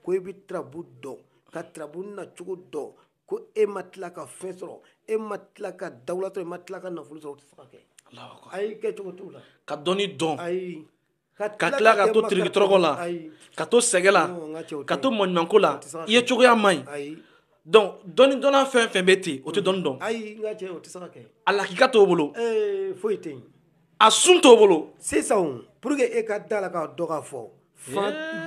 ko i bɛ turabu dɔn ka turabu nacogo dɔn ko e ma tila ka fɛn sɔrɔ e ma tila ka dawula sɔrɔ e ma tila ka nafolo sɔrɔ o tɛ se ka kɛ ayi kɛ cogo t'o la ka dɔnni dɔn ayi ka tila ka to tirikitɔrɔkɔ la ka to sɛgɛn la ka to maɲumanko la i ye cogoya man ɲi donc dɔnni dɔnna fɛn fɛn bɛ ten o tɛ dɔnni dɔn ayi n ka cɛ o tɛ se ka kɛ a lakika t'o bolo foyi tɛ yen a sun t'o bolo sisan pour que e ka da la k'a dɔn k'a fɔ fa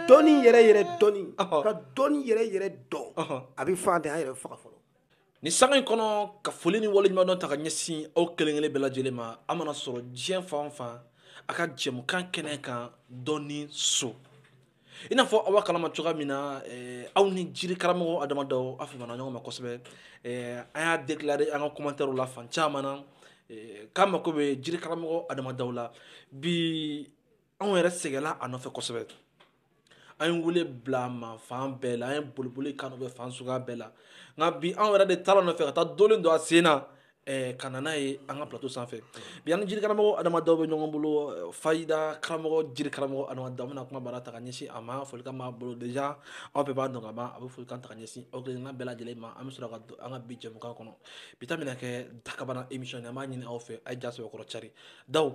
dɔnni yɛrɛ yɛrɛ dɔnni ka dɔnni yɛrɛ yɛrɛ dɔn a bɛ faantanya de faga fɔlɔ ni sanga in kɔnɔ ka foli ni waleɲumandɔn ta ka ɲɛsin aw kelen kelen bɛɛ lajɛlen ma aw mana sɔrɔ diɲɛ fan fan a ka jɛmukan kɛnɛ kan dɔnni so i n'a fɔ aw b'a kalama cogoya min na eh, aw ni jiri karamɔgɔ adama daw aw famana ɲɔgɔn ma kosɛbɛ eh, an y'a déclaré an ka commentaire la fan caman na eh, k'a mako bɛ jiri karamɔgɔ adama daw la bi anw yɛrɛ sɛgɛnna a nɔfɛ kosɛbɛ an ye wele bila a ma fan bɛɛ la an ye boliboli k'a nɔfɛ fan suguya bɛɛ la nka bi anw yɛrɛ de taar'a nɔfɛ ka taa dolen don a sen na eh, ka na n'a ye an ka plateau sanfɛ bi an ni jiri karamɔgɔ adama daw bɛ ɲɔgɔn bolo eh, fayida karamɔgɔ jiri karamɔgɔ adama daw bɛna kumabara ta ka ɲɛsin aw ma folikan b'a bolo déjà aw bɛɛ b'a dɔn ka ban a bɛ folikan ta ka ɲɛsin aw kelenna bɛɛ lajɛlen ma an bɛ sɔrɔ ka don an ka bi jɛmukan kɔnɔ bi ta bɛna kɛ dakabana émission ye an b'a ɲini aw fɛ a ye ja sɛbɛkɔrɔ cari daw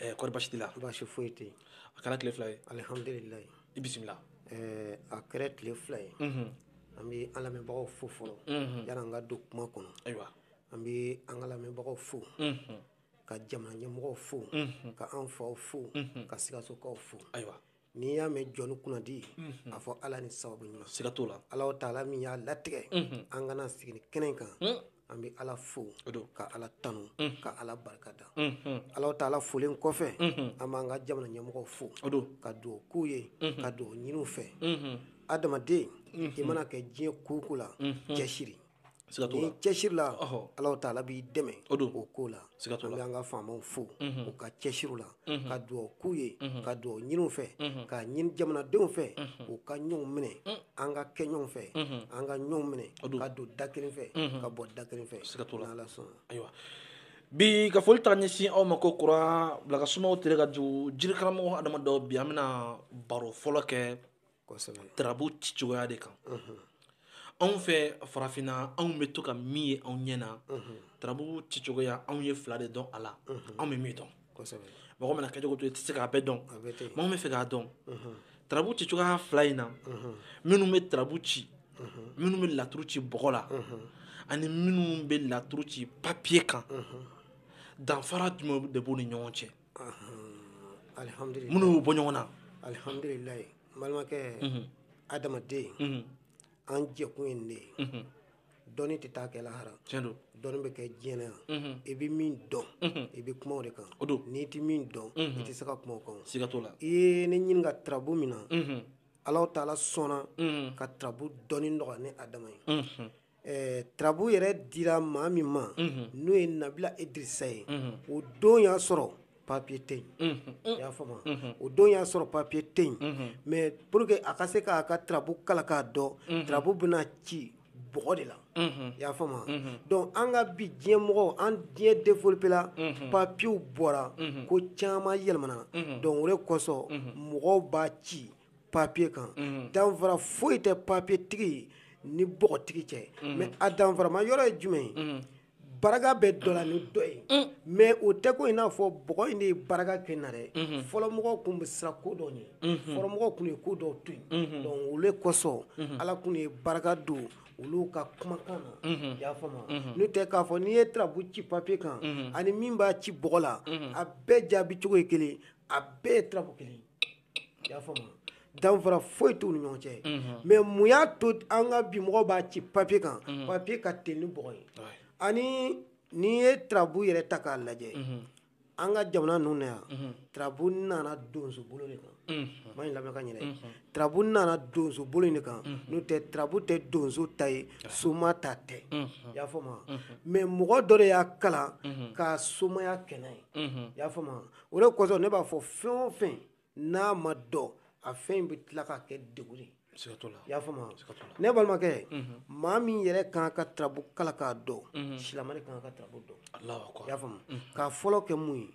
ɛɛ kɔri basi t'i la basi foyi tɛ yen a kɛra tile fila ye alihamudulilayi i bisimila ɛɛ a kɛra tile fila ye an bɛ an lamɛnbagaw fo fɔlɔ yann'an ka don kuma kɔnɔ ayiwa an bɛ an ka lamɛnbagaw fo ka jamana ɲɛmɔgɔw fo ka an faw fo ka sikasokaw fo ayiwa n'i y'a mɛn jɔnni kunnadi a fɔ ala ni sababu ɲuman siga t'o la ala taala min y'a latigɛ an ka na sigi nin kɛnɛ kan an bɛ ala fo ka ala tanu ka ala barika da ala taala folen kɔfɛ an b'an ka jamana ɲɛmɔgɔw fo ka dugawu k'u ye ka dugawu ɲini u fɛ adamaden i mana kɛ diɲɛ ko o ko la cɛsiri ni cɛsiri la ala taala b'i dɛmɛ o ko la an b'an ka faamaw fo u ka cɛsiri la ka dugawu k'u ye ka dugawu ɲini u fɛ k'a ɲini jamanadenw fɛ u ka ɲɔgɔn minɛ an ka kɛ ɲɔgɔn fɛ an ka ɲɔgɔn minɛ ka don da kelen fɛ ka bɔ da kelen fɛ n'ala sɔnna ayiwa bi ka foli ta ka ɲɛsin aw ma kokura bila ka suma o tere ka jugu jiri karamɔgɔ adama daw bi an bɛna baro fɔlɔ kɛ anw fɛ farafinna anw bɛ to ka min ye anw ɲɛ na turabu cicogoya anw ye fila de dɔn a la anw bɛ min dɔn mɔgɔ mana kɛ cogo to i tɛ se k'a bɛɛ dɔn mɔgɔ min bɛ fɛ k'a dɔn turabu cicogoya fila in na minnu bɛ turabu ci minnu bɛ laturu ci bɔgɔ la ani minnu bɛ laturu ci papiye kan danfara jumɛn de b'u ni ɲɔgɔn cɛ minnu y'u bɔ ɲɔgɔn na alihamdulilayi n balimakɛ adamaden mhm. an jɛkun ye nin de ye mhm. dɔnni tɛ taa kɛ lahara dɔnni bɛ kɛ diɲɛ na yan mhm. i bɛ min dɔn i bɛ kuma o de kan n'i tɛ min dɔn i tɛ se ka kuma o kan i ye ne ɲininka tarabu min na alahu taala sɔnna ka tarabu dɔnni nɔgɔya ni adama ye Ɛɛ tarabu yɛrɛ dira maa min ma n'o ye nabila idirisa ye o don y'a sɔrɔ papiye tɛ yen i y'a faamu o don y'a sɔrɔ papiye tɛ yen mais pour que a ka se k'a ka tarabu kalan k'a dɔn tarabu bɛna ci bɔgɔ de la i y'a faamu donc an ka bi diɲɛ mɔgɔw an diɲɛ développé la papiyew bɔra ko caman yɛlɛmana donc o de kosɔn mɔgɔw b'a ci papiye kan mhm. danfara foyi tɛ papiye tigi ni bɔgɔtigi cɛ mhm. mais a danfarama yɔrɔ ye jumɛn ye mhm. baraka bɛ dɔ la ni dɔ ye mm. mais o tɛ ko i n'a fɔ bɔgɔ in de ye baraka kɛ na dɛ fɔlɔmɔgɔw tun bɛ siran ko dɔw ɲɛ fɔlɔmɔgɔw tun ye ko dɔw to yen donc olu kosɔn ala tun ye baraka don olu ka kumakan na i y'a faamu n'o tɛ k'a fɔ n'i ye tarabu ci papiye kan ani min b'a ci bɔgɔ la a bɛɛ jaabi cogo ye kelen a bɛɛ ye tarabu kelen y'a faamu danfara foyi t'u ni ɲɔgɔn cɛ mais mun y'a to an ka bi mɔgɔw b'a ci papiye kan papiye ka teli ni bɔgɔ ye ani n'i ye tarabu yɛrɛ ta k'a lajɛ an ka jamana ninnu na yan tarabu nana donso bolo de kan mais n lamɛn ka ɲɛ tarabu nana donso bolo de kan n'o tɛ tarabu tɛ donso ta ye soma ta tɛ i y'a faamu mais mɔgɔ dɔ de y'a kalan ka somaya kɛ n'a ye i y'a faamu o de kosɔn ne b'a fɔ fɛn o fɛn n'a ma dɔn a fɛn in bɛ tila ka kɛ degun ye i y'a faamu ne balimakɛ mhm. maa min yɛrɛ kan ka tarabu kalan k'a dɔn mhm. silamɛ de kan ka tarabu dɔn i y'a faamu mhm. k'a fɔlɔ kɛ mun ye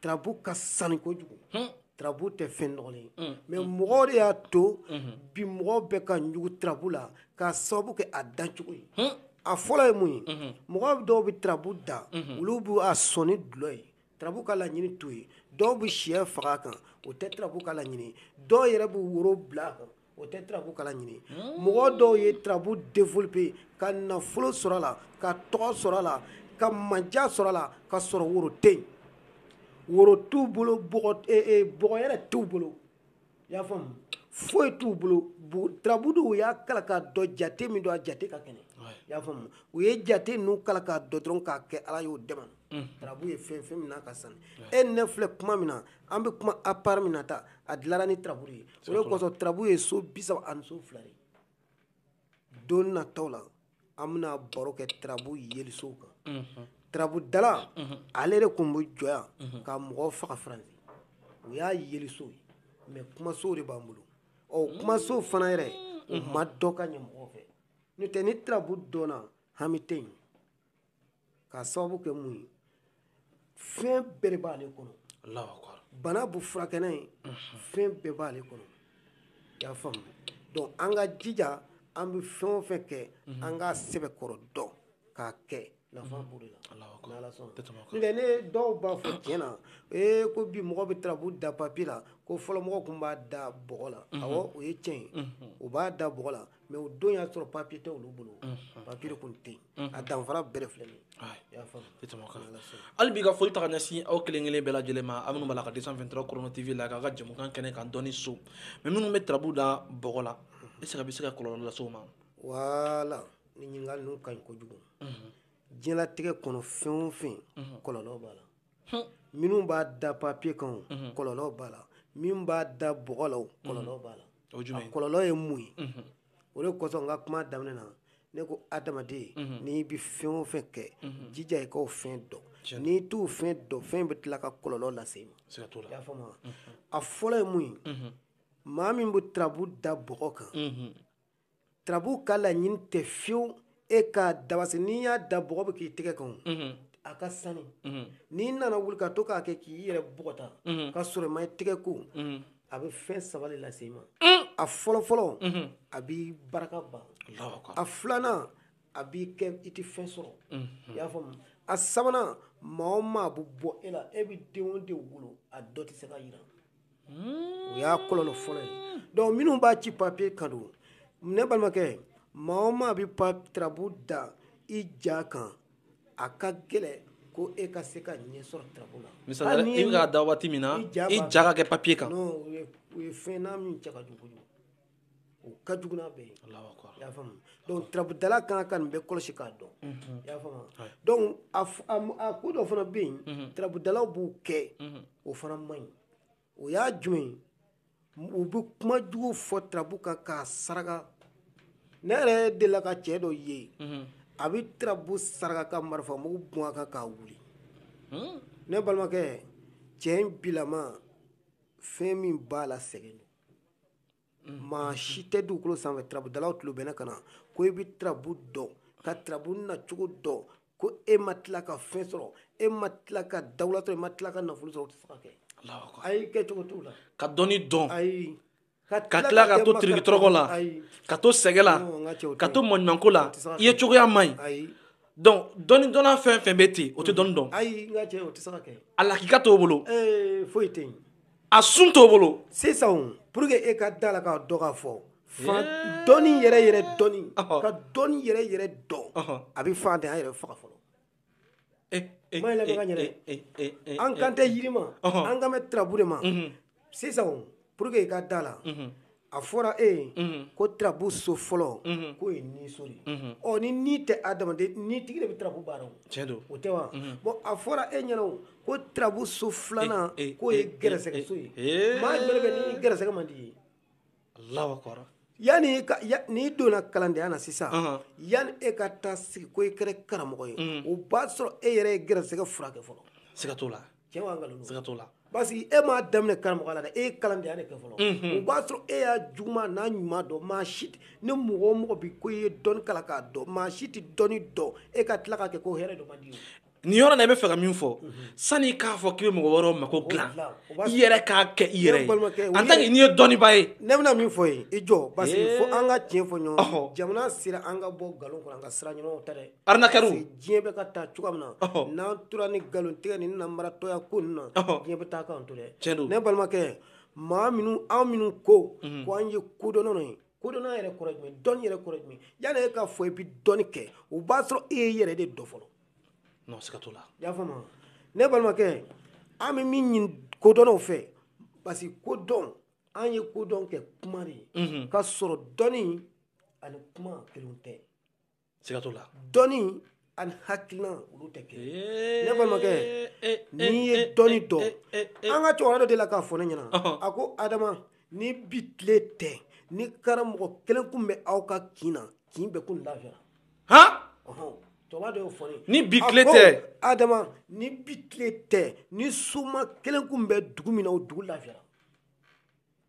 tarabu ka sani kojugu hmm. tarabu tɛ fɛn nɔgɔlen ye hmm. mais hmm. mɔgɔw de y'a to bi mɔgɔw bɛ ka ɲugu tarabu la k'a sababu kɛ a dancogo ye a fɔlɔ ye mun ye mɔgɔ dɔw bɛ tarabu da olu b'a sɔn ni dulɔ ye Tarabu ka laɲini t'o ye dɔw bɛ sɛ faga a kan o tɛ tarabu ka laɲini dɔw yɛrɛ bɛ woro bila a kan o tɛ tarabu ka laɲini mɔgɔ dɔw ye tarabu développé ka nafolo sɔrɔ a la ka tɔgɔ sɔrɔ a la ka mandiya sɔrɔ a la ka sɔrɔ woro tɛ yen woro t'u bolo bɔgɔ yɛrɛ t'u bolo i y'a faamu foyi t'u bolo tarabu de u y'a kalan k'a dɔn jate min don a jate ka kɛnɛ i y'a faamu u ye jate ninnu kalan k'a dɔn dɔrɔn k'a kɛ ala y'u dɛmɛ tarabu ye fɛn fɛn min n'a ka sani e ne filɛ kuma min na an bɛ kuma appareil min na ta a dilara ni tarabu de ye o de kosɔn tarabu ye so bisaba ani so fila de don na tɔw la an bɛna baro kɛ tarabu yelisow kan mhm. tarabu dala mhm. ale de tun bɛ jɔ yan mhm. ka mɔgɔw faga faransi o y'a yelisow ye mɛ kumasow de b'an bolo ɔ kumasow fana yɛrɛ o ma dɔn ka ɲɛ mɔgɔw fɛ n'o tɛ ni tarabu dɔnna hami tɛ yen k'a sababu kɛ mun ye fɛn bɛɛ de b'ale kɔnɔ bana bu furakɛ n'a ye fɛn bɛɛ b'ale kɔnɔ i y'a faamu donc an ka jija an bɛ fɛn o fɛn kɛ an k'a sɛbɛkɔrɔ dɔn k'a kɛ nafa b'o de la n'ala sɔnna n'o tɛ ne dɔw b'a fɔ tiɲɛ na ee ko bi mɔgɔ bɛ tarabu da papiye la ko fɔlɔ mɔgɔw tun b'a da bɔgɔ la awɔ o ye tiɲɛ ye u b'a da bɔgɔ la mɛ o don y'a sɔrɔ papiye tɛ olu bolo papiye tun tɛ yen a danfara bɛɛ de filɛ hali bi ka foli ta ka ɲɛsin aw kelen kelen bɛɛ lajɛlen ma aw minnu b'a la ka deux cent vingt-trois Corona TV la k'a ka jamukan kɛnɛ kan dɔnni so mɛ minnu bɛ tarabu da bɔgɔ la est-ce que a bɛ se ka kɔlɔlɔ lase o ma wala nin ɲininkali ninnu ka ɲi kojugu diɲɛlatigɛ kɔnɔ fɛn o fɛn kɔlɔlɔ b'a la minnu b'a da papiye kan mhm. kɔlɔlɔ b'a la min b'a da bɔgɔ la kɔlɔlɔ mhm. b'a la a kɔlɔlɔ ye mun ye mhm. o de kosɔn n ka kuma daminɛ na ne ko adamaden n'i bɛ fɛn o fɛn kɛ jija i k'o fɛn dɔn n'i t'o fɛn dɔn fɛn bɛ tila ka kɔlɔlɔ lase i ma i y'a faamu a fɔlɔ ye mun ye maa min bɛ tarabu da bɔgɔ kan tarabu ka laɲini tɛ fiyewu e k'a dabasi n'i y'a da bɔgɔ bɛ k'i tɛgɛ kan a ka sani n'i nana wuli ka to k'a kɛ k'i yɛrɛ bɔgɔta ka sɔrɔ i ma i tɛgɛ ko a bɛ fɛn saba de lase i ma a fɔlɔfɔlɔ a b'i baraka ban a filanan a b'i kɛ i tɛ fɛn sɔrɔ i y'a faamu a sabanan maa o maa bɛ bɔ e la e bɛ den o den wolo a dɔ tɛ se ka yiriwa o y'a kɔlɔlɔ fɔlɔ ye donc minnu b'a ci papier kan don ne balimakɛ maa o maa bɛ pa tarabu da i ja kan a ka gɛlɛn ko e ka se ka ɲɛ sɔrɔ tarabu la misali i bɛ k'a da waati min na i ja ka kɛ papier kan non o ye fɛn n'a min cɛ ka jugu kojugu o ka jugu n'a bɛɛ ye i y'a faamu donc tarabudala ka kan ka nin bɛɛ kɔlɔsi k'a dɔn i y'a faamu donc a ko dɔ fana bɛ yen tarabudalaw b'u kɛ o fana man ɲi o y'a jumɛn ye u bɛ kuma jugu fɔ tarabu kan k'a saraka ne yɛrɛ delila ka cɛ dɔ ye a bɛ tarabu saraka ka marifa mugu bɔn a kan k'a wuli ne balimakɛ cɛ in bilama fɛn min b'a la sɛgɛn don maa si tɛ dugukolo sanfɛ turabudalaw tulo bɛ ne kan na ko i bɛ turabu dɔn ka turabu nacogo dɔn ko e ma tila ka fɛn sɔrɔ e ma tila ka dawula sɔrɔ e ma tila ka nafolo sɔrɔ o tɛ se ka kɛ ayi kɛcogo t'o la ka dɔnni dɔn ayi ka tila ka to tirikitɔrɔkɔ la ka to sɛgɛ la ka to maɲumanko la i ye cogoya man ɲi donc dɔnni dɔnna fɛn fɛn bɛ ten o tɛ dɔnni dɔn ayi n ka cɛ o tɛ se ka kɛ a lakika t'o bolo foyi tɛ yen a sun t'o bolo sisan pour que e ka da la k'a dɔn k'a fɔ fan dɔnni yɛrɛ yɛrɛ dɔnni ka dɔnni yɛrɛ yɛrɛ dɔn a bɛ faantanya yɛrɛ faga fɔlɔ eh, eh, kuma in lamɛn ka ɲɛ dɛ eh, an kan tɛ yiri ma an kan bɛ tirabu de ma sisan pour que e ka da la a fɔra e ye ko tirabu so fɔlɔ k'o ye ni so de ye ɔ ni ni tɛ adamaden ni tigi de bɛ tirabu baara o tɛ wa bon a fɔra e ɲɛna ko tirabu so filanan k'o ye gɛrɛsɛgɛso ye maa yɛrɛ bɛ ni gɛrɛsɛgɛ man di ye lawa kɔrɔ yanni n'i donna kalandenya na sisan yanni e ka taa sigi ko i kɛra karamɔgɔ ye o b'a sɔrɔ e yɛrɛ ye gɛrɛsɛgɛ furakɛ fɔlɔ siga t'o la tiɲɛ wa nkalon don siga t'o la parce que e m'a daminɛ karamɔgɔya la dɛ e ye kalandenya de kɛ fɔlɔ o b'a sɔrɔ e y'a juguman n'a ɲuman dɔn maa si tɛ ni mɔgɔ o mɔgɔ bi ko i ye dɔnni kalan k'a dɔn maa si tɛ dɔnni dɔn e ka tila k'a kɛ ko hɛrɛ dɔ man di ye nin yɔrɔ la i bɛ fɛ ka min fɔ sani i k'a fɔ k'i bɛ mɔgɔ wɛrɛw mako dilan i yɛrɛ k'a kɛ i yɛrɛ ye en tant que n'i ye dɔnnibaa ye ne bɛna min fɔ i ye i jɔ parce que fo an ka tiɲɛ fɔ ɲɔgɔn jamana sera an ka bɔ nkalon kɔnɔ an ka sira ɲumanw ta dɛ arnaqueur diɲɛ bɛ ka taa cogoya min na n'an tora ni nkalon tigɛ ni nanbaratɔya ko ninnu na diɲɛ bɛ taa k'an to dɛ tiɲɛ don ne balimakɛ maa minnu an minnu ko mhm. ko an ye kodɔnnaw ye kodɔnna yɛrɛ kɔrɔ jumɛn dɔnni yɛrɛ kɔrɔ jumɛn yanni e k'a fɔ i bɛ dɔnni kɛ o b'a sɔrɔ e ye i yɛrɛ de dɔn fɔlɔ non siga t'o la i y'a faamu ne balimakɛ an bɛ min ɲini kodɔnnaw fɛ parce que kodɔn an ye kodɔn kɛ kuma de ye mhm. ka sɔrɔ dɔnni ani kuma kelen tɛ siga t'o la dɔnni ani hakilina olu tɛ kelen ne balimakɛ n'i ye dɔnni dɔn an ka cɛkɔrɔba dɔ delila k'a fɔ ne ɲɛna a ko adama ni bi tile tɛ ni karamɔgɔ kelen kun bɛ aw ka kin na kin bɛɛ kun lafiyara cɛkɔrɔba dɔ y'o fɔ ne ye ni bi tile tɛ adama ni bi tile tɛ ni soma kelen kun bɛ dugu min na o dugu lafiyara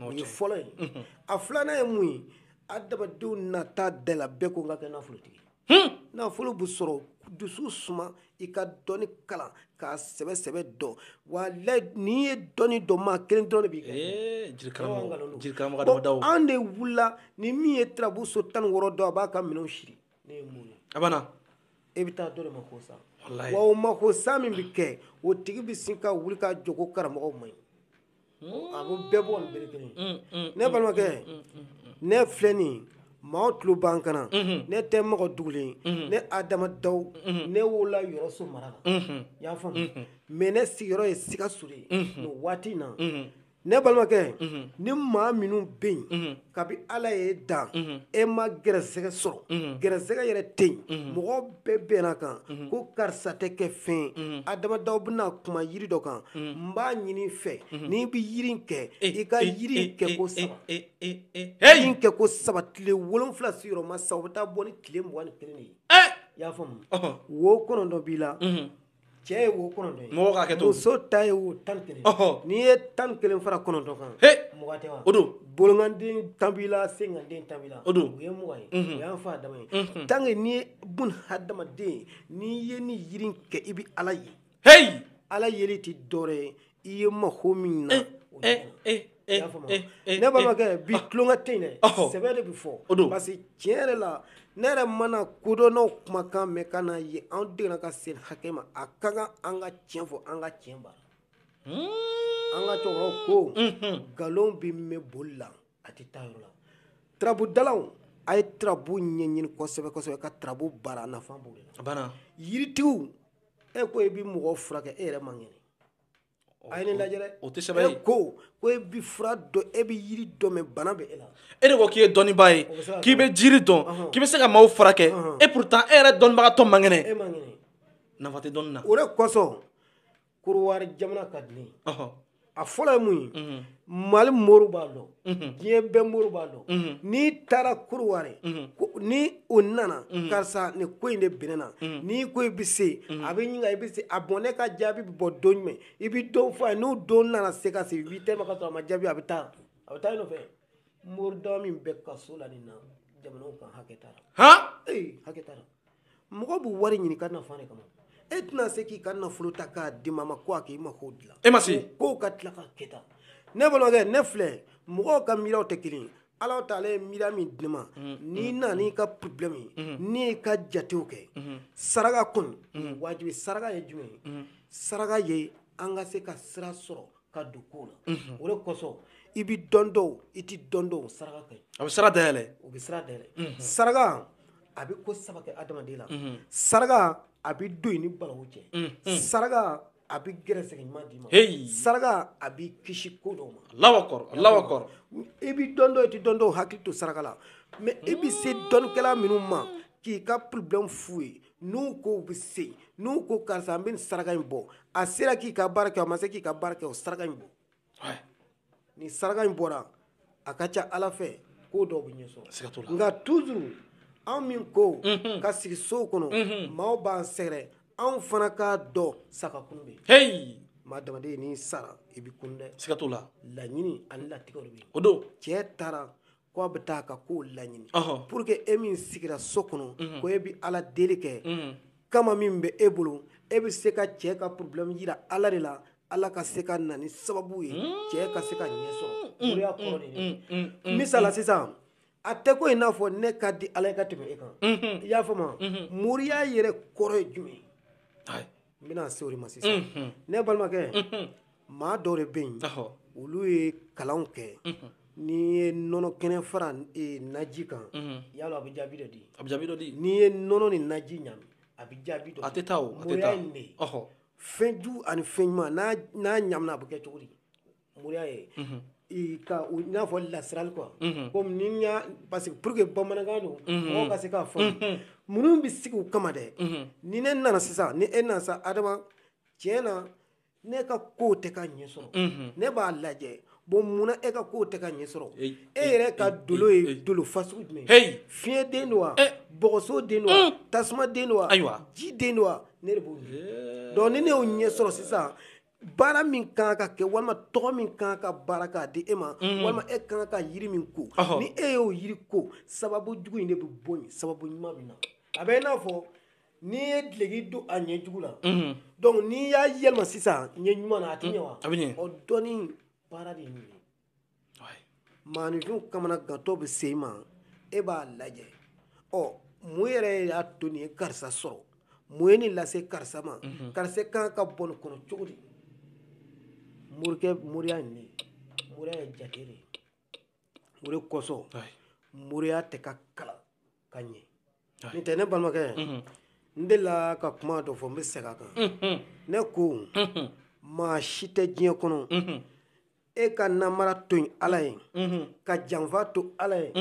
o ye fɔlɔ ye a filanan ye mun ye adamadenw nata b'a la bɛɛ ko n ka kɛ nafolotigi nafolo bɛ sɔrɔ dusu suma i ka dɔnni kalan k'a sɛbɛ sɛbɛ dɔn wa n'i ye dɔnni dɔn maa kelen dɔrɔn de b'i kɛ an de wulila ni min ye tirabu so tan ni wɔɔrɔ dɔn a b'a ka minɛnw siri ne ye mun ye a banna e bɛ taa dɔ de mako sa wa o mako sa min bɛ kɛ o tigi bɛ sin ka wuli ka jɔ ko karamɔgɔ man ɲi a b'u bɛɛ bɔ ni bere kelen mm, mm, ne mm, balimakɛ ne filɛ nin maaw tulo b'an kan na mm-hmm. ne tɛ mɔgɔ dogolen mm-hmm. ne adama daw mm-hmm. ne wolola yɔrɔso mara la y'a faamu mais ne sigiyɔrɔ ye sikaso de ye nin waati in na ne balimakɛ ni maa minnu bɛ yen kabi ala y'e dan e ma gɛrɛsɛgɛ sɔrɔ gɛrɛsɛgɛ yɛrɛ tɛ yen mɔgɔ bɛɛ bɛnna kan ko karisa tɛ kɛ fɛn ye adama daw bɛna kuma yiri dɔ kan n b'a ɲini fɛ n'i bɛ yiri in kɛ i ka yiri in kɛ ko saba yiri in kɛ ko saba tile wolonwula sigiyɔrɔma saba o bɛ taa bɔ ni tile mugan ni kelen de ye i y'a faamu wo kɔnɔntɔn b'i la cɛ ye wo kɔnɔntɔn ye mɔgɔ ka kɛ to muso ta ye wo tan kelen n'i ye tan kelen fara kɔnɔntɔn kan mugan tɛ wa o don bolonkanden tan b'i la senkanden tan b'i la o don o ye mugan ye o y'an fa adama ye tant que n'i ye bun hadamaden n'i ye ni yiri kɛ i bɛ ala ye heyi ala yeli tɛ dɔwɛrɛ ye i ye mako min na o de kɔnɔ. Eh, eh, I y'a faamu wa? eh, eh, ne balimakɛ eh, bi ah. tulonkɛ tɛ yen dɛ Ɔhɔ. sɛbɛ de bɛ fɔ O don. parce que tiɲɛ yɛrɛ la ne yɛrɛ mana kodɔnnaw kumakan mɛn ka n'a ye an degera ka se hakɛ ma a ka kan an ka tiɲɛ fɔ an ka tiɲɛ baara Hmm. an ka cɛkɔrɔbaw ko Mhm. nkalon bɛ mɛn boli la a tɛ taa yɔrɔ la turabudalaw a ye turabu ɲɛɲini kosɛbɛ kosɛbɛ ka turabu baara a nafa b'o de la a banna yiritigiw e ko i bɛ mɔgɔw furakɛ e yɛrɛ man kɛnɛ a ye ne lajɛ dɛ o tɛ sɛbɛ ye e ko ko e bɛ fura dɔn e bɛ yiri dɔn mais bana bɛ e la e de ko k'i ye dɔnnibaa ye k'i bɛ jiri dɔn k'i bɛ se ka maaw furakɛ et pourtant e yɛrɛ dɔnnibagatɔ man kɛnɛ e man kɛnɛ nafa tɛ dɔnni na o de kosɔn Korowari jamana ka di ne ye a fɔlɔ ye mun ye mali mori b'a dɔn mhm. diɲɛ bɛɛ mori b'a dɔn mhm. n'i taara Korowari mhm. ni o nana karisa nin ko in de bɛ ne na n'i ko i bɛ se a b'i ɲininka i bɛ se ah bon ne ka jaabi bɛ bɔ don jumɛn i bɛ don fɔ a ye n'o don nana se ka se huit heures ma ka sɔrɔ a ma jaabi a bɛ taa a bɛ taa i nɔfɛ mori dama min bɛ kaso la nin na jamanaw kan hakɛ t'a la han ee hakɛ t'a la mɔgɔ bɛ wari ɲini ka nafa de kama e tɛna se k'i ka nafolo ta k'a di maa ma ko a k'i mako dilan e ma se k'o ka tila ka kɛ tan ne balimakɛ ne filɛ mɔgɔw ka miiriyaw tɛ kelen ye ala taala ye miiriya min di ne ma mm, n'i mm, nana mm. n'i ka problème ye n'i y'i ka jatew kɛ saraka kɔni wajibi saraka ye jumɛn ye saraka ye an ka se ka sira sɔrɔ ka don ko la mhm. o de kosɔn i bɛ dɔ dɔn i tɛ dɔ dɔn saraka ka ɲi a bɛ sira dayɛlɛ o bɛ sira dayɛlɛ mhm. saraka a bɛ ko saba kɛ adamaden la mhm. saraka a bɛ don i ni balawu cɛ saraka a bɛ gɛrɛsɛgɛ ɲuman d'i ma saraka a b'i kisi ko dɔw ma Allahu akbar Allahu akbar i bɛ dɔ dɔn i tɛ dɔ dɔn hakili to saraka la mais i bɛ se dɔnnikɛla minnu ma k'i ka problème f'u ye n'u ko u bɛ se n'u ko karisa an bɛ nin saraka in bɔ a sera k'i ka baara kɛ a ma se k'i ka baara kɛ o saraka in bɔ ni saraka in bɔra a ka ca ala fɛ ko dɔw bɛ ɲɛ sɔrɔ nka toujours anw min ko mhm. ka sigi sow kɔnɔ mhm. maaw b'an sɛgɛrɛ anw fana k'a dɔn sa ka kunun bɛ yen maa adamaden n'i sara i bɛ kunun dɛ siga t'o la laɲini ani latigɛw de bɛ yen o don cɛ taara k'a bɛ taa ka kow laɲini pour que e min sigira so kɔnɔ ko e bɛ ala deli kɛ kama min bɛ e bolo e bɛ se ka cɛ ka problème yira ala de la ala ka se ka na ni sababu ye cɛ ka se ka ɲɛ sɔrɔ moriya kɔrɔ de ye misala sisan a tɛ ko i n'a fɔ ne ka di ala ye ka tɛmɛ e kan i y'a faamu moriya yɛrɛ kɔrɔ ye jumɛn ye n bɛna se o de ma sisan ne balimakɛ maa dɔw de bɛ yen olu ye kalanw kɛ n'i ye nɔnɔ kɛnɛ fara eh, naji kan yala a bɛ jaabi dɔ di a bɛ jaabi dɔ di n'i ye nɔnɔ ni naji ɲami a bɛ jaabi dɔ di a tɛ taa o a tɛ taa moriya ye nin de ye fɛn jugu ani fɛn ɲuman n'a n'a ɲamina a bɛ kɛ cogo di moriya ye i n'a fɔ lasirali quoi comme ni n y'a parce que pour que bamanankan don mɔgɔw ka se k'a faamu minnu bɛ sigi u kama dɛ ni ne nana sisan ni e nana sa adama tiɲɛ na ne ka kow tɛ ka ɲɛ sɔrɔ ne b'a lajɛ bon mun na e ka kow tɛ ka ɲɛ sɔrɔ e yɛrɛ ka dolo ye dolo fasugu jumɛn ye fiɲɛ den don wa bɔgɔso den don wa tasuma den don wa ji den don wa ne de b'o dɔn ni ne y'o ɲɛ sɔrɔ sisan baara min kan ka kɛ walima tɔgɔ min kan ka baara k'a di e ma mhm. walima e kan ka yiri min ko ni e y'o yiri ko sababu jugu in de bɛ bɔ yen sababu ɲuman bɛ na a bɛ i n'a fɔ n'i ye dileki don a ɲɛ jugu la mhm. donc n'i y'a yɛlɛma sisan ɲɛ ɲuman na a tɛ ɲɛ wa mhm. a bɛ ɲɛ ɔ dɔnni baara de ye nin ye maaninfin kamanagantɔ bɛ se i ma e b'a lajɛ ɔ mun yɛrɛ y'a to nin ye karisa sɔrɔ mun ye nin lase karisa ma mhm. karisa kan ka bɔ nin kɔnɔ cogo di moriya nin ye moriya ye jate de ye o de kosɔn moriya tɛ ka kalan ka ɲɛ n tɛ ne balimakɛ n delila ka kuma dɔ fɔ n bɛ segin a kan ne ko maa si tɛ diɲɛ kɔnɔ e ka namara to yen ala ye ka janfa to ala ye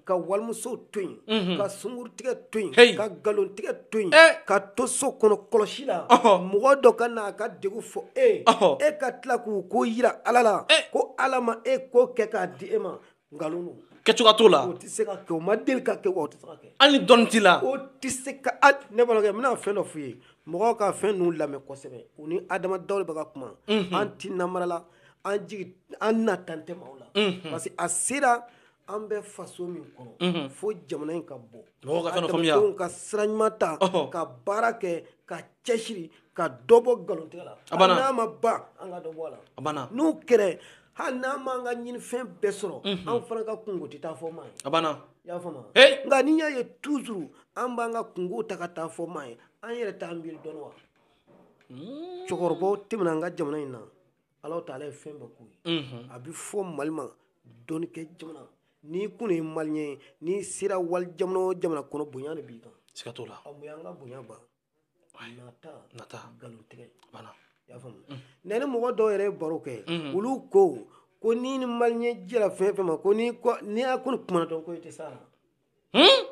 ka walimuso to yen ka sungurun tigɛ to yen ka nkalon tigɛ to yen ka to so kɔnɔ kɔlɔsi la mɔgɔ dɔ ka na a ka degun fɔ e e ka tila k'u ko yira ala la ko ala ma e ko kɛ k'a di e ma kɛcogoya t'o la o tɛ se ka kɛ o ma deli ka kɛ o tɛ se ka kɛ hali ni dɔnni t'i la o tɛ se ka ne balimakɛ n bɛna fɛn dɔ f'i ye mɔgɔw ka fɛn ninnu lamɛn kosɛbɛ u ni adama dawo de bɛ ka kuma an ti namara la an jigi an nata tɛ maaw la parce que a sera an bɛ faso min kɔnɔ fo jamana in ka bɔ mɔgɔw ka fɛn dɔ faamuya adamadenw ka sira ɲuman ta ka baara kɛ ka cɛsiri ka dɔ bɔ nkalontigɛ la hali n'a ma ban an ka dɔ bɔ a la n'o kɛra hali n'an m'an ka ɲinifɛn bɛɛ sɔrɔ mhm. an fana ka kunko tɛ taa fɔ maa ye a banna i y'a faamu nka n'i y'a ye toujours an b'an ka kunko ta ka taa fɔ maa ye an yɛrɛ t'an miiri dɔɔni wa hmm. cɛkɔrɔbaw tɛmɛna an ka jamana in na ala taala ye fɛn bɛɛ k'u ye mhm. a bɛ fɔ mali ma dɔnnikɛ jamana n'i kun ye maliyɛn ye n'i sera wali jamana o jamana kɔnɔ bonya de b'i kan siga t'o la mun y'an ka bonya ban nata nata nkalontigɛ a banna i y'a faamu ne ni mɔgɔ dɔw yɛrɛ ye baro kɛ olu ko ko ni ni maliyɛn jɛra fɛn fɛn ma ko ni ni y'a ko ni kuma dɔn ko i tɛ s'a la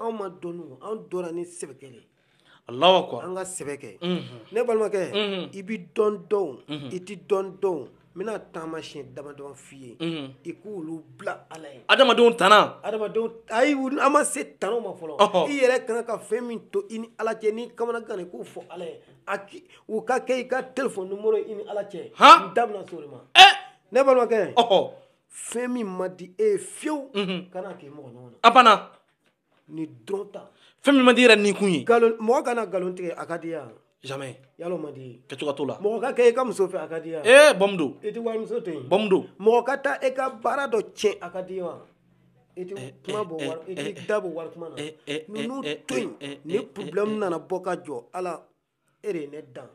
anw ma dɔn anw dɔnna ni sɛbɛkɛ de alahu akbar an ka sɛbɛ kɛ ne balimakɛ i bɛ dɔ dɔn i tɛ dɔ dɔn n bɛna taamasiyɛn damadɔ f'i ye i k'olu bila ala ye adamadenw tana adamadenw ayi an ma se tanaw ma fɔlɔ i yɛrɛ kan ka fɛn min to i ni ala cɛ n'i kamanaganna i k'o fɔ ala ye a ki o ka kɛ i ka telefɔni nimɔrɔ i ni ala cɛ n da bɛna s'o de ma ne balimakɛ fɛn min man di e ye fiyewu kana k'i mɔgɔ ɲɔgɔn na a banna nin dɔrɔn ta fɛn min man di yɛrɛ nikun ye nkalon mɔgɔ ka na nkalon tigɛ a ka d'i ye wa jamais yalo man di kɛcogo t'o la mɔgɔ ka kɛ i ka muso fɛ a ka d'i ye wa ee bɔmu don i tɛ walimuso to yen bɔmu don mɔgɔ ka taa i ka baara dɔ tiɲɛ a ka d'i ye wa i tɛ kuma bɔ wali i tɛ da bɔ wali kuma na ninnu to yen ni problème nana bɔ ka jɔ ala e de ye ne dan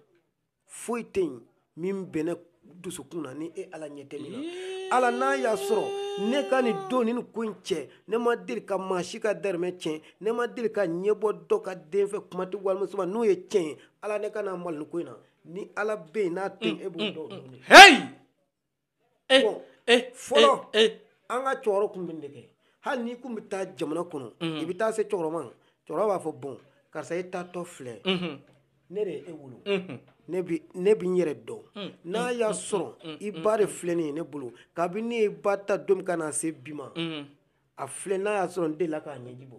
foyi tɛ yen min bɛ ne dusukun na ni e ala ɲɛ tɛ min na ala n'a y'a sɔrɔ ne ka nin don ni nin ko in cɛ ne ma deli ka maa si ka dahirimɛ tiɲɛ ne ma deli ka ɲɛ bɔ dɔ ka den fɛ kuma tɛ walimuso ma n'o ye tiɲɛ ye ala ne kana malo nin ko in na ni ala bɛ yen n'a tɛ yen e b'o dɔn eh, bon, eh, fɔlɔ eh, eh. an ka cɛkɔrɔ tun bɛ nin de kɛ hali n'i kun bɛ taa jamana kɔnɔ mm. i bɛ taa se cɛkɔrɔba ma cɛkɔrɔba b'a fɔ bon karisa e taatɔ filɛ mm-hmm. ne de ye e wolo mm-hmm. ne bi ne bi n yɛrɛ dɔn mm. n'a mm. y'a sɔrɔ i ba de filɛ nin ye ne bolo kabini ne y'i ba ta don min ka na se bi ma a filɛ n'a y'a sɔrɔ n delila k'a ɲɛji bɔ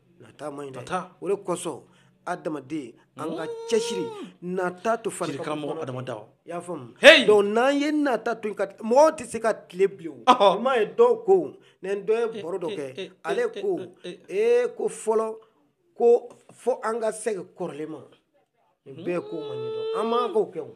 nata man ɲi dɛ nata o de kosɔn adamaden an ka cɛsiri nata to fari karamɔgɔ adama dawo i y'a faamu hey donc n'an ye nata to ka mɔgɔw tɛ se ka tile bilen o i m'a ye dɔw ko ne ni dɔ ye baro dɔ kɛ ale ko ee ko fɔlɔ ko fo an ka segin kɔrɔlen ma nin bɛɛ ko ma ɲɛ dɔn an man k'o kɛ o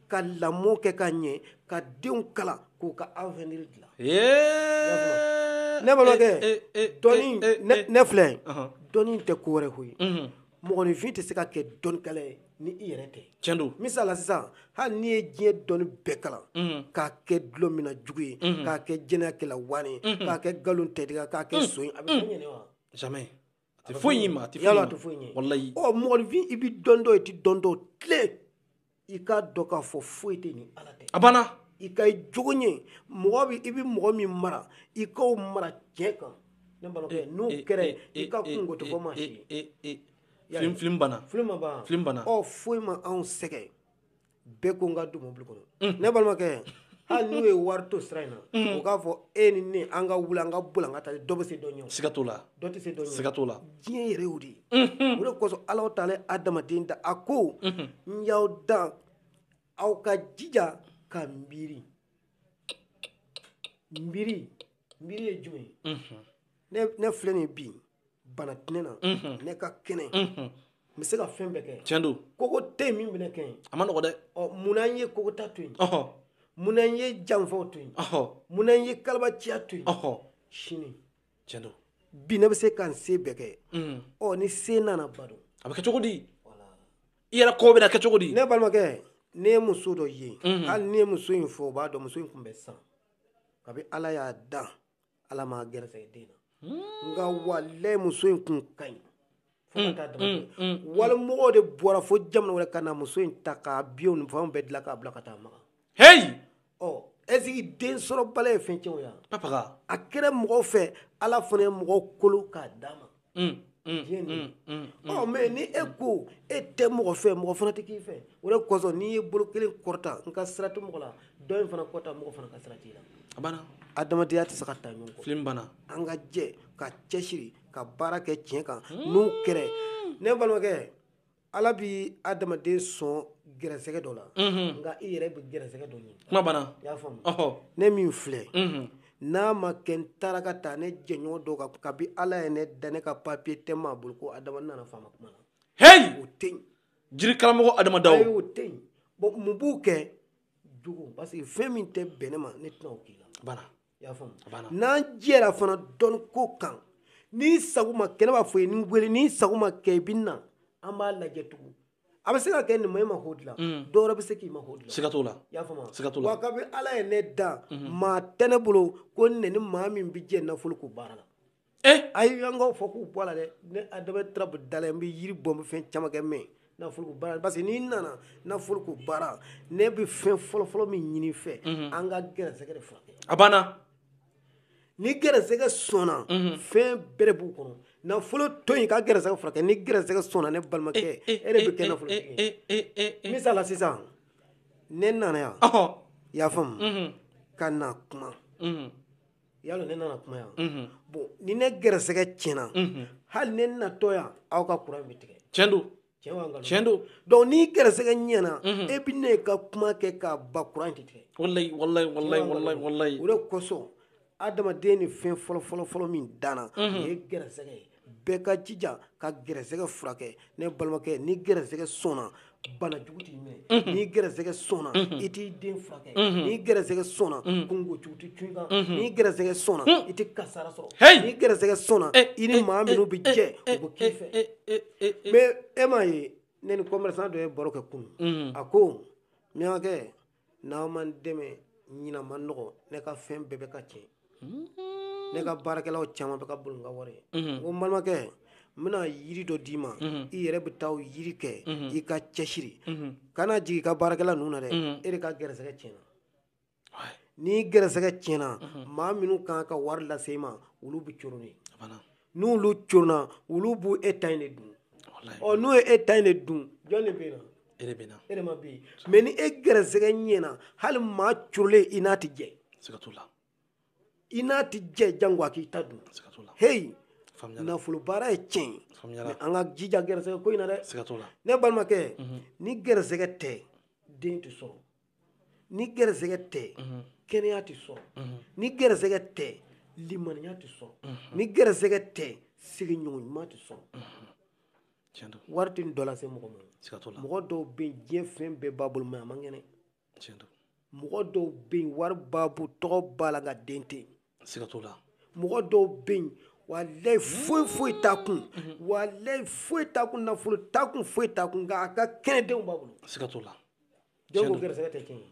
ka lamɔ kɛ ka ɲɛ ka denw kalan k'u ka avenir dilan ne balimakɛ dɔnni ne filɛ dɔnni tɛ ko wɛrɛ koyi mhm. mɔgɔninfin tɛ se ka kɛ dɔnnikɛla ye ni i yɛrɛ tɛ tiɲɛ don misali la sisan hali n'i ye diɲɛ dɔnni bɛɛ kalan mhm. k'a kɛ dulɔminna jugu ye mhm. k'a kɛ jɛnɛyakɛla wani k'a kɛ nkalontigɛ k'a kɛ son ye a bɛ fɛn ɲɛ wa jamais a tɛ foyi ɲɛ i ma a tɛ foyi ɲɛ foyi ɲɛ walayi ɔ mɔgɔninfin i bɛ dɔ dɔn i tɛ dɔ dɔn tile i k'a dɔn k'a fɔ foyi tɛ ni ala tɛ a banna i ka i jogo ɲɛ mɔgɔ bɛ i bɛ mɔgɔ min mara i k'o mara tiɲɛ kan ne balimakɛ eh, n'o eh, kɛra eh, i ka kunko tɛ fɔ maa si ye filim filim banna filim ma banna filim banna ɔ foyi ma anw sɛgɛn bɛɛ ko n ka don mobili kɔnɔ mm. ne balimakɛ hali n'u ye wari to sira in na mm. u k'a fɔ e ni ne an ka wuli an ka boli an ka taa dɔ bɛ se dɔ ɲɛ siga t'o la dɔ tɛ se dɔ ɲɛ siga t'o la diɲɛ yɛrɛ y'o de ye mm-hmm. o de kosɔn ala taala ye adamaden dan a ko mm-hmm. n y'aw dan aw ka jija ka miiri miiri miiri ye jumɛn ye mm-hmm. ne filɛ nin bi bana tɛ ne na ne ka kɛnɛ n bɛ se ka fɛn bɛɛ kɛ tiɲɛ don kogo tɛ yen min bɛna kɛ yen a ma nɔgɔ dɛ ɔ munna n ye kogota to yen munna n ye janfaw to yen munna n ye kalabanciya to yen sini tiɲɛ don bi ne bɛ se ka n se bɛɛ kɛ ɔ ni se nana ban don a bɛ kɛ cogo di i yɛrɛ kɔ bɛna kɛ cogo di ne balimakɛ ne ye muso dɔ ye hali ne ye muso in fɔ o b'a dɔn muso in tun bɛ san kabi ala y'a dan ala m'a gɛrɛsɛgɛ den na hmm. nka walayi muso in kun ka ɲi hmm, fo ka taa dama hmm, walimɔgɔw de bɔra fo jamana wɛrɛ ka na muso in ta k'a biyɛw ni fɛnw bɛɛ dilan k'a bila ka taa maka heyi ɔ est-ce que densɔrɔbaliya ye fɛn tiɲɛ wa a kɛra mɔgɔw fɛ ala fana ye mɔgɔw kolo k'a d'a ma mm, mm, diɲɛ nin mm, ɔ mais ni e ko e tɛ mɔgɔ fɛ mɔgɔ fana tɛ k'i fɛ o de kosɔn n'i ye bolo kelen kɔrɔta n ka sira tɛ mɔgɔ la dɔ in fana kɔrɔta mɔgɔ fana ka sira t'i la a banna adamadenya tɛ se ka taa ɲɔgɔn kɔ film banna an ka jɛ ka cɛsiri ka baara kɛ tiɲɛ kan n'o kɛra ne balimakɛ ala bɛ adamaden sɔn gɛrɛsɛgɛ dɔ la nka i yɛrɛ bɛ gɛrɛsɛgɛ dɔ ɲini kuma banna i y'a faamu ne min filɛ n'a ma kɛ n taara ka taa ne jɛɲɔgɔn dɔ kan kabi ala ye ne dan ne ka papiye tɛ maa bolo ko adama nana faama kuma na heyi o tɛ yen jiri karamɔgɔ adama daw o tɛ yen bɔn mun b'u kɛ jugu parce que fɛn min tɛ bɛn ne ma ne tɛna o k'i la banna n'an jɛra fana dɔnni ko kan n'i sago ma kɛ ne b'a fɔ i ye ne wele n'i sago ma kɛ i bɛ na an b'a lajɛ tugun a bɛ se ka kɛ ne ma e mako dilan mm. dɔ wɛrɛ bɛ se k'i mako dilan siga t'o la i y'a faamu siga t'o la wa kabini ala ye ne dan mm-hmm. maa tɛ ne bolo ko ne ni maa min bɛ jɛ nafolo ko baara la eh ayi an k'a fɔ k'u bɔ a la dɛ ne adama tarabu da la n bɛ yiri bɔ n bɛ fɛn caman kɛ mɛ nafoloko baara parce que n'i nana nafoloko baara ne bɛ fɛn fɔlɔfɔlɔ min ɲini i fɛ mhm. an ka gɛrɛsɛgɛ de furakɛ a banna ni gɛrɛsɛgɛ sɔnna mhm. fɛn bɛɛ de b'o kɔnɔ nafolo to yen ka gɛrɛsɛgɛ furakɛ ni gɛrɛsɛgɛ sɔnna ne balimakɛ eh, eh, e de bɛ kɛ eh, nafolotigi ye misali la sisan ne nana yan i y'a faamu mhm. ka na kuma yalo ne nana kuma yan mhm. bon ni ne gɛrɛsɛgɛ tiɲɛna mhm. hali ne natɔ yan aw ka kuran bɛ tigɛ tiɲɛ don tiɲɛ don donc ni gɛrɛsɛgɛ ɲɛna mhm. e bɛ ne ka kuma kɛ ka ban kuran tɛ tigɛ walayi walayi walayi walayi walayi o de kosɔn adamaden ni fɛn fɔlɔ fɔlɔ fɔlɔ min danna o ye gɛrɛsɛgɛ ye bɛɛ ka jija ka gɛrɛsɛgɛ furakɛ ne balimakɛ ni gɛrɛsɛgɛ sɔnna bana jugu t'i minɛ mhm. ni gɛrɛsɛgɛ sɔnna mhm. i t'i den furakɛ mhm. ni gɛrɛsɛgɛ sɔnna kungo jugu tɛ cun i kan ni gɛrɛsɛgɛ sɔnna i tɛ kasara sɔrɔ ni gɛrɛsɛgɛ sɔnna eh, i ni eh, maa eh, minnu bɛ jɛ u bɛ k'i fɛ mais e m'a ye ne ni commerçant dɔ ye baro kɛ kunun a ko miyankɛ n'aw ma n dɛmɛ ɲinan ma nɔgɔ ne ka fɛn bɛɛ bɛ ka tiɲɛ mm-hmm. ne ka baarakɛlaw caman bɛ ka boli n ka wari ye mm-hmm. n ko n balimakɛ n bɛna yiri dɔ d'i ma mm-hmm. i yɛrɛ bɛ taa o yiri kɛ i ka cɛsiri kana jigin i ka baarakɛla ninnu na dɛ e de ka gɛrɛsɛgɛ tiɲɛna ni gɛrɛsɛgɛ tiɲɛna maa minnu kan ka wari lase i ma olu bɛ coron de n'olu coronna olu b'u e ta in de dun ɔ n'u ye e ta in de dun jɔn de bɛ na e de bɛ na e de ma bɛ yen mɛ ni e gɛrɛsɛgɛ ɲɛna hali maa corolen i n'a tɛ jɛ siga t'o la i n'a tɛ jɛ jango a k'i ta dun siga t'o la heyi nafolo baara ye tiɲɛ ye mɛ an ka jija gɛrɛsɛgɛ ko in na dɛ siga t'o la ne balimakɛ ni gɛrɛsɛgɛ tɛ den tɛ sɔrɔ ni gɛrɛsɛgɛ tɛ kɛnɛya tɛ sɔrɔ ni gɛrɛsɛgɛ tɛ limaniya tɛ sɔrɔ ni gɛrɛsɛgɛ tɛ sigiɲɔgɔn ɲuman tɛ sɔrɔ wari tɛ dɔ lase mɔgɔ ma mɔgɔ dɔw bɛ yen diɲɛ fɛn bɛɛ b'a bolo mɛ a man kɛnɛ mɔgɔ dɔw bɛ yen wari b'a bolo tɔgɔ b'a la nka den tɛ yen siga t'o la mɔgɔ dɔw bɛ yen walayi foyi foyi t'a kun walayi foyi t'a kun nafolo t'a kun foyi t'a kun nka a ka kɛnɛ denw b'a bolo siga t'o la jɔn ko gɛrɛsɛgɛ tɛ tiɲɛ ye